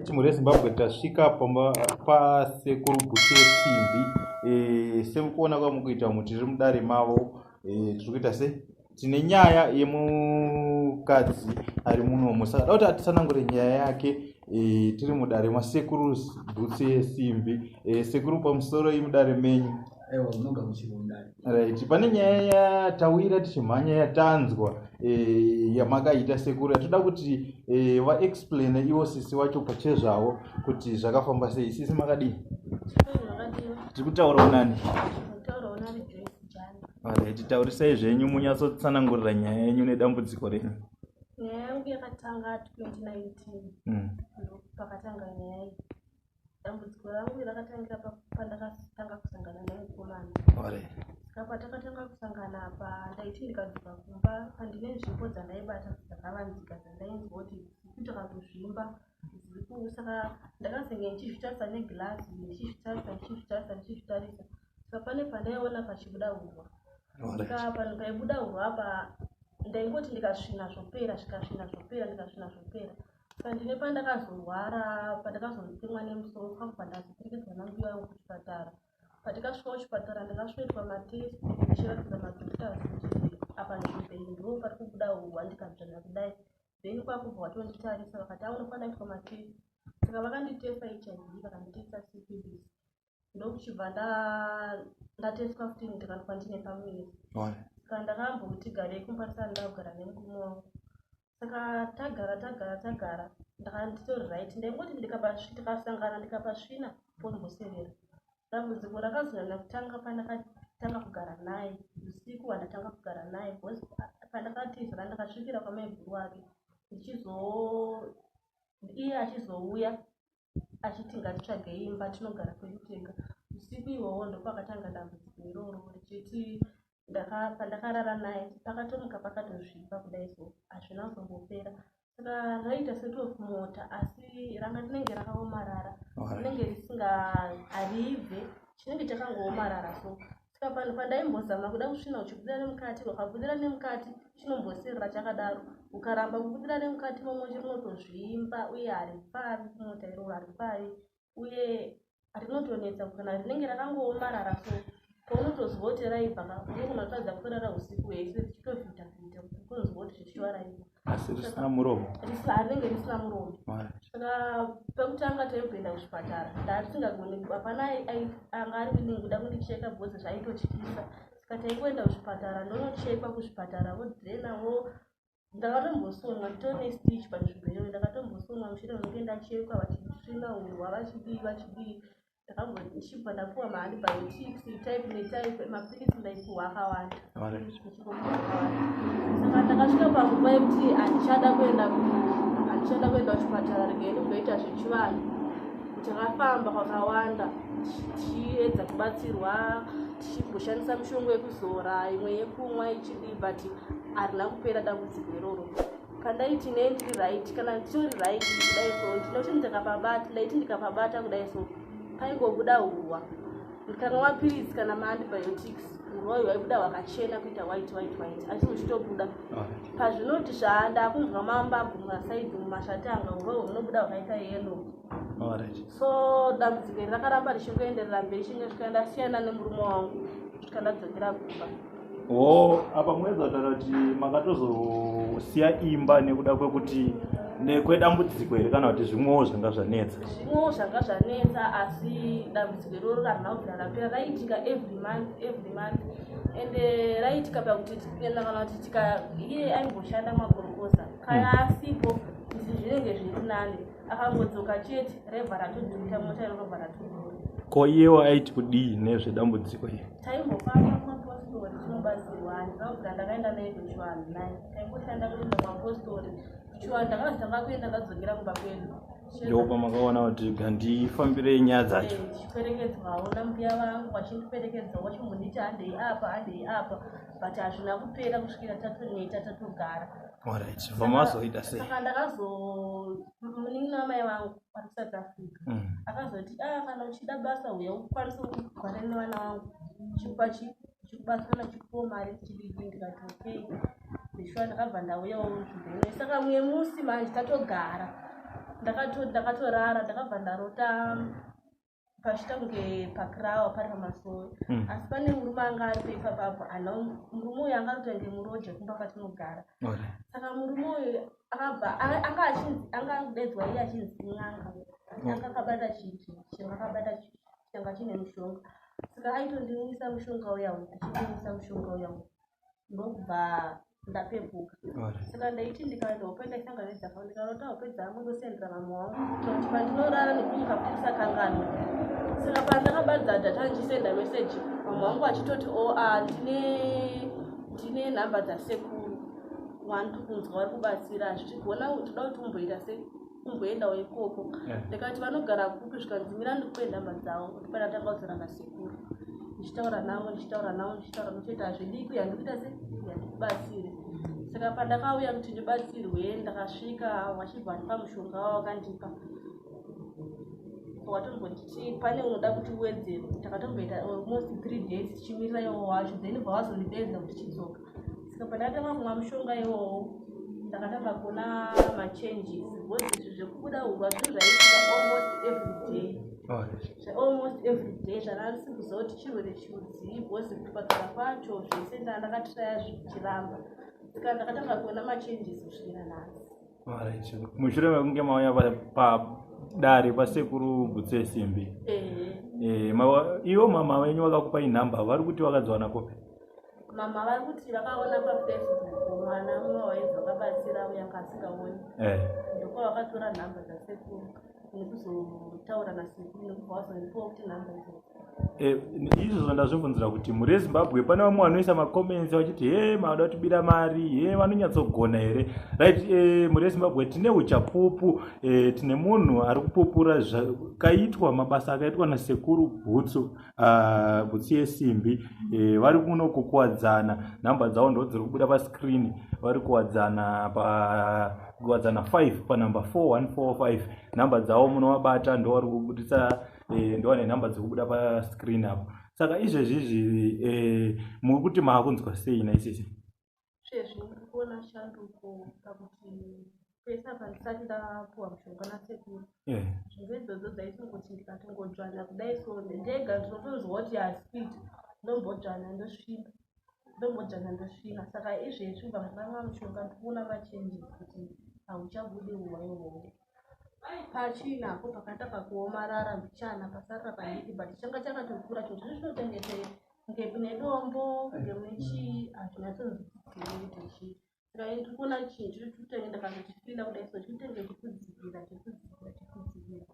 Timu reZimbabwe tasvika pamba pasekuru bute simbi e, semukuona kwamukuita mu tiri mudare mavo e, tiri kuita se tine nyaya yemukadzi ari muno musada kuti atisanangure nyaya yake e, tiri mudare masekuru butse simbi e, sekuru pamusoro imudare menyu aiwa munoga muchiri mundani right pane nyaya yatawira tichimhanya yatanzwa eh, yamakaita sekuru yatoda kuti eh, vaexplaine ivo sisi wacho pachezvavo kuti zvakafamba sei sisi makadii tiri kutaura unani right taurisai zvenyu munyatsotsanangurira nyaya yenyu nedambudziko renyu nyaya yangu yakatanga 2019 mm. pakatanga nyaya iyi dambudziko rangu rakatangira pandakatanga kusangana nemukomana ska patakatanga kusangana apa ndaiti ndikadzoka kumba pandine nzvimbo dzandaibata dzakavanzika dzandainzi kuti zikuti kandozvimba saka ndakazenge ndichizvitarisa negilasi ndichizvitarisa ndichizvitarisa ndichizvitarisa ska pane pandaiona pachibuda hurwa ska panhu paibuda hurwa apa ndaingoti ndikasvina zvopera zvikasvina zvopera ndikasvina zvopera Pandine pandakazorwara pandakazotemwa nemusoro pamwe pandazoperekedzwa nambuya yangu kuchipatara patikasvika kuchipatara ndakasvoitwa matest ndichiratidza madoctors kuti apa ndizvei ndo pari kubuda huwa ndikadzvanya kudai then kwakubva watonditarisa vakati aunofanira kuitwa matest saka vakanditesta hiv vakanditesta cpbs ndokuchibva ndateswa futi ndikati kwandine pamuviri saka ndakambokuti garei kumba ndisati ndakugara nemurume wangu saka tagara tagara tagara ndakanditori right ndaingoti ndikasangana ndikapasvina pondimbosevera dambudziko rakazonyanya kutanga pandakatanga kugara naye usiku wandatanga kugara naye bcause pandakatizira ndakasvikira kwamaiguru wake ndichizo iye achizouya achiti ngatitsvagei imba tinogara kwedu tega usiku ihwohwo ndopakatanga dambudziko iroro richiti pandakarara naye pakatomuka pakatozvipa kudai so hazvina kuzombopera saka raiita setof mota asi ranga rinenge rakaomarara rinenge risinga haribve chinenge chakangoomarara so saka panhu pandaimbozama kuda kusvina uchibudira nemukati wakabudira nemukati chinombosirira chakadaro ukaramba kubudira nemukati momwe chinotozvimba uye haripavi kumota iro haripavi uye rinotonetsa kana rinenge rakangoomarara so paunotozwa kuti raibva ka unogona kutadza kurara usiku hwese richitofita fita kunzwa kuti zvichiva raibva asi risina muromo harinenge risina muromo saka pekutanga taimboenda kuchipatara ndaatisingagoni hapana anga ari willing kuda kundicheka bcause zvaitotyisa saka taingoenda kuchipatara ndonochekwa kuchipatara vodraina wo ndakatombosonwa tone stich panzvimbo iyoyo ndakatombosonwa mushure mekunge ndachekwa vachitsvina hurwa vachidii vachidii ndakambosvibva ndapuwa maantibiotics type netype mapiritsi ndaipuwa akawanda saka ndakasvika panguva yekuti handichada kuenda handichada kuenda kuchipatara rikeni kunoita zvechivanhu takafamba kwakawanda tichiedza kubatsirwa tichigoshandisa mishongo yekuzora imwe yekumwa ichidii but harina kupera dambudziko iroro pandaiti nei ndiri right kana nditori right kudai so ndinoti ndikapabata ndaiti ndikapabata kudai so paingobuda hurwa ndikanwa mapiritsi kana maantibiotics hurwa uyu waibuda hwakachena kuita white white white asi huchitobuda pazvinoti zvandakunzwa mamba gumwa saidi mumashati anga hurwa uyu hunobuda hwakaita yellow so dambudziko iri rakaramba richingoenderera mberi chinge svika ndasiyana nemurume wangu svika ndadzokera kumba o apa mwedza kutaura kuti makatozosiya imba nekuda kwekuti nekwedambudziko here kana kuti zvimwewo zvanga zvanetsa zvimwewo zvanga zvanetsa asi dambudziko iroro rahana kubvira rapera raiitika every month every month and eh, raiitika pakuti tienda kana kuti tika iye aimboshanda magorokoza kana mm. asipo izvi zvinenge zviri nani akangodzoka chete revha ratodhurika mota irorova ratodhura ko iyewo aiti kudii nezvedambudziko iri taimbofamba kumapostori tinobatsirwa handina kugara ndakaenda naye kuchivanhu naye taingoshanda kuenda kumapostori kuchivanhu ndakazotanga kuenda ndadzokera kumba kwedu ndopa makaona kuti gandifambire nyaya dzacho eh, chiperekedzwawo nambuya vangu vachindiperekedza wachimbonditi handei apa handei apa but hazvina kupera kusvikira tatoneta tatogara Alright, vamazoita sei? Saka ndakazo munin'ina wamai vangu ari South Africa mm. akazoti ah kana uchida basa uya ukwanise kugara nevana vangu chikupa chikubatsana chikupo mari chidiki ndikati okay ndishuwa ndakabva ndauyawo zvibhene saka mumwe musi manje tatogara ndakatorara ndakabva ndarota pachitando pacrawa pari pamasowe mm. asi pane murume anga ari paipa papo ana murume uyu anga arikuta kunge muroja kumba kwatinogara saka murume uyu akabva anga achinzi anga akudaidzwa iye achinzi n'anga anga akabata chiti chinhu akabata changa chine mushonga saka aitondinwisa mushonga uya uyu achindinwisa mushonga uya uyu ndokubva ndapepuka saka ndaiti ndikaenda hope ndaisanganidza pa ndikarota hope dzangu ndosendera vamwe wangu kuti pandinorara nekunyika kusakanganwa saka pandakabadza data ndichisenda meseji vamwe wangu vachitoti o oh, a ah, ndine ndine nhamba dzasekuru wani tikunzwa vari kubatsira zvichigona toda kuti umboita sei kumboendawo ikoko ndikati vanogara kupi zvikanzi mira ndikupe nhamba dzavo kuti pane atanga kuzara nasekuru ndichitaura navo ndichitaura navo ndichitaura notoita hazvidii kuya ndikuita se yandikubatsire saka pandakauya kuti ndibatsirwe ndakasvika vachibva ndipa mushonga wavo vakandipa wakatombonditi pane unoda kuti uwedzere takatomboita almost three days tichimirira iwo wacho then bva wazondipedza kuti chidzoka saka pandatanga kumwa mushonga iwowo ndakatanga kuona machanges because izvi zvekubuda hurwa zvinhu zvaitika almost everyday almost everyday zvandarisi kuziva kuti chirwere chiudzii because kupatara kwacho zvese ndaa ndakatiraya zvichiramba saka ndakatanga kuona machanges kusvikira nhasi mushure mekunge mauya padare pasekuru butse simbi eh. eh, ivo mama venyu vakakupai nhamba vari kuti vakadziwana kopi mama vari kuti vakaona pafacebook mwana umwe wainzi vakabatsira uya kaasingaoni eh. ndoko vakatora nhamba dzasekuru nekuzotaura nasekuru nekubva vazondipiwa kuti nhamba idzo eh, izvozvo ndazvibvunzira kuti muri ezimbabwe pane vamwe vanoisa macomments vachiti he maada kutibira mari he vanonyatsogona here right eh, muri ezimbabwe tine uchapupu tine munhu ari kupupura zvakaitwa mabasa akaitwa nasekuru bhutsu Ah, kutsiye simbi eh, vari kuno kukuwadzana nhamba dzavo ndo dziri kubuda pascreen vari kuwadzana pa kuwadzana 5 panumber 4145 nhamba dzavo munovabata ndo vari kubudisa eh, ndo vane nhamba dziri kubuda pascreen apo saka izvezvi izvi eh, muri kuti maakunzwa sei naisisi sezvo muri kuona shanduko pakuti pese apa ndisati ndapuwa mushonga nasekuru eh. zvinhu idzodzo dzaisingoti ndikatongodzvana kudai so ndega ndinotonzwa kuti haspid ndombodzvana ndosvina ndombodzvana ndosvina saka izvezvi ubva muranga mushonga ndikuona machenjis kuti hauchabude uwa ihoho pachina apo pakatanga kuomarara mbichana pasarira padiki but changa chakatokura choti zvizvinotengetere kunge kune dombo kunge mune chii hatinyatsoziiichii ndaikuona chinhu chiri chikutenge ndakazvichipinda kudai so chikutenge chikudzigira chikudzigira chikudzigira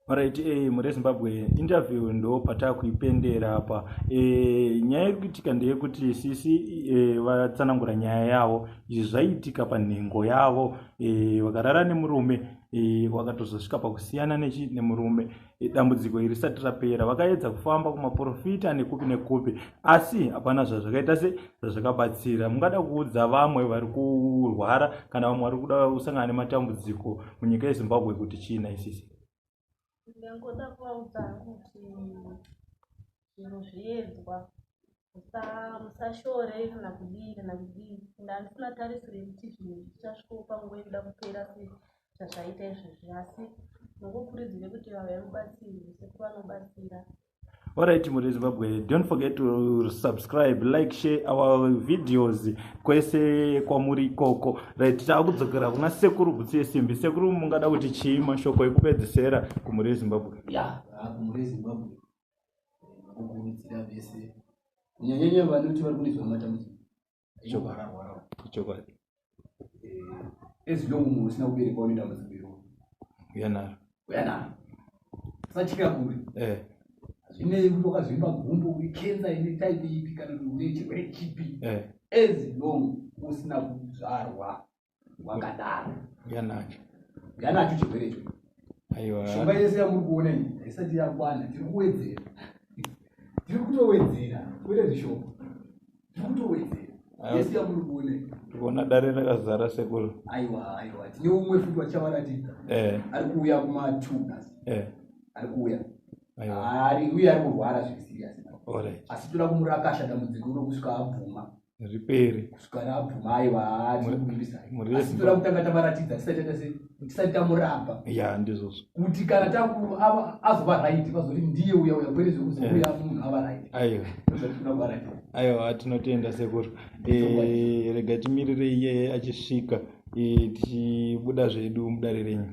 Alright, eh, mure Zimbabwe interview ndo patakuipendera apa eh, nyaya iri kuitika ndeyekuti sisi eh, vatsanangura nyaya yavo izvi zvaiitika panhengo yavo eh, vakarara nemurume eh, wakatozosvika pakusiyana nechi nemurume dambudziko iri risati rapera vakaedza kufamba kumaprofita nekupi nekupi asi hapana zvazvakaita se zvazvakabatsira mungada kuudza vamwe vari kurwara kana vamwe vari kuda kusangana nematambudziko munyika yezimbabwe kuti chii naisisi ndangoda kuvaudza kuti zvinhu zviedzwa musashore kana kudii kana kudii and handifuna tarisiro yekuti zvinhu zvichasvikawo panguva yekuda kupera se zvazvaita izvezvi asi nokukuridzire kuti vava vemubatsirwe sekuru vanobatsira Alright, Muri Zimbabwe, don't forget to subscribe, like, share our videos kwese kwamuri ikoko. Right, takudzokera kuna sekuru butsi yesimbi. Sekuru mungada kuti chii mashoko ekupedzisera kuMuri Zimbabwe? Yeah, kuMuri Zimbabwe. kukurudzira vese kunyanyanya vanoti vari kune zvimwe matambudziko ichokwarakwara ichokwadi eh, as long munhu usina kuberekwa une dambudziko iro uyanaro uyanaro usatya kure eh. hazvinei kuti wakazvimba gumbo uri kensa ine type ipi kana kuti une chirwere chipi eh. as long usina kuzvarwa wakadaro yanacho yanacho chirwere icho aiwa shonga yese yamuri kuona iyi haisati yakwana tiri kuwedzera tiri kutowedzera kwete zvishoma tiri kutowedzera yese yamuri kuona iyi tikuona dare rakazara sekuru aiwa aiwa tine umwe futi wachavaratidza eh ari kuuya kuma two plus eh ari kuuya aiwa ari uye ari kurwara zviri serious alright asi toda kumurakasha dambudziko iro kusvika abvuma ripere kusvika rabvuma aiwa haatinokumbisaiasitoda kutanga tavaratidza tisati tamuramba ya ndizvozvo kuti kana takuru azova raiti vazoti ndiye uya uya kwere zvekuzouya eh. munhu ava raiti aiwa aiwa tinotenda sekuru eh, rega timirire iye achisvika eh, tichibuda zvedu mudare renyu